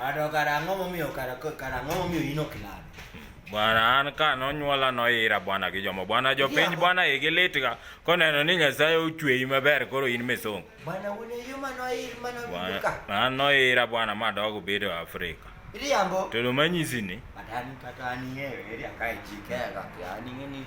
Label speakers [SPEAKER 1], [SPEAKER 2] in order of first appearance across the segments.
[SPEAKER 1] Ato
[SPEAKER 2] kara ang'o momiyo kara kara ang'o momiyo in ok lad? Bwana an
[SPEAKER 1] ka nonyuola noira bwana gi jomo bwana jopiny bwana igi litga koneno ni Nyasaye ochweyi maber koro in misong. Bwana wuon e yo
[SPEAKER 2] mano ir mano Bwana ka. an
[SPEAKER 1] noira bwana madogo bedo Afrika. Riambo. To do
[SPEAKER 2] manyisi ni
[SPEAKER 1] Kata an kata an yeye
[SPEAKER 2] eri akae jikega kya ni ni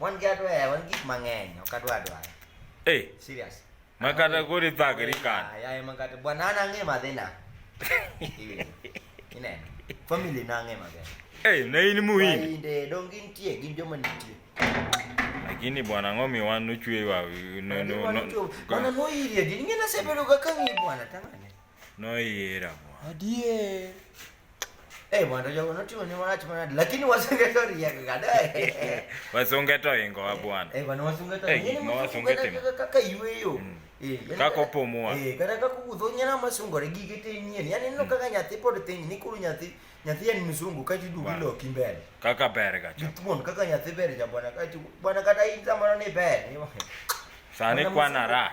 [SPEAKER 2] Mon gatwa eh, wan gik mang'eny ok adwa dwar. Eh, Serious. makata
[SPEAKER 1] koro ithagri kan. Yaye makata bwana
[SPEAKER 2] an ang'e madhina. Ineno. Family na ang'e maber. Eh, na in muhindi.
[SPEAKER 1] Wainde dong gintie
[SPEAKER 2] gin joma nitie. Lakini
[SPEAKER 1] bwana ng'omi wan nochwewa no no no. Bwana noirie
[SPEAKER 2] gini ng'e nasebedo ga kang'i bwana tang'ane. Noyiera
[SPEAKER 1] mwa. Adier.
[SPEAKER 2] Eh, mondo jogo notimo ni wach mana lakini wasunge to riek ga dai. Wasunge
[SPEAKER 1] to ingo wa bwana. Eh, bwana wasunge to. Eh,
[SPEAKER 2] ma wasunge timo.
[SPEAKER 1] Kaka yueyo.
[SPEAKER 2] Mm. Eh, kaka
[SPEAKER 1] opomwa. Eh, kata kaka wuotho
[SPEAKER 2] nyana masungore gige te nyien. Yaani no mm. kaka nyathi pod tin ni kuru nyathi nyathi en mzungu kati du wilo kimbele. Kaka ber ga cha.
[SPEAKER 1] Gitmon kaka nyathi ber
[SPEAKER 2] ja bwana kati bwana kata in samano ni ber. Sani
[SPEAKER 1] kwana rak.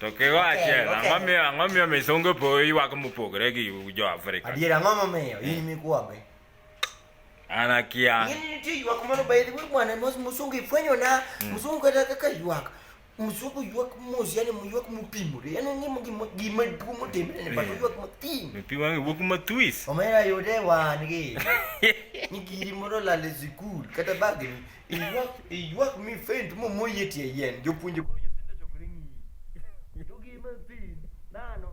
[SPEAKER 2] To kigo
[SPEAKER 1] achiel, Ok, ok. ang'o miyo ang'o miyo misongo po ywak mopogore gi jo Afrika? Adier ang'o momiyo in
[SPEAKER 2] mikwambe?
[SPEAKER 1] An akia. Ng'enyne nitie ywak moro
[SPEAKER 2] by the way bwana mos msungu ifwenyona msungu kata kaka ywak msungu ywak mos yani ywak mopimore yani ng'imo gima gima duong' otimre ne pato ywak matin Pi wang'e wuok
[SPEAKER 1] matwis. omera yude wan
[SPEAKER 2] gi ni giri moro lal e sikul kata bagni Iywak iywak mi faint mo mo yie tie yien. Jopuonje koro nyithindo chokore ng'iyi. To gi mathin nano.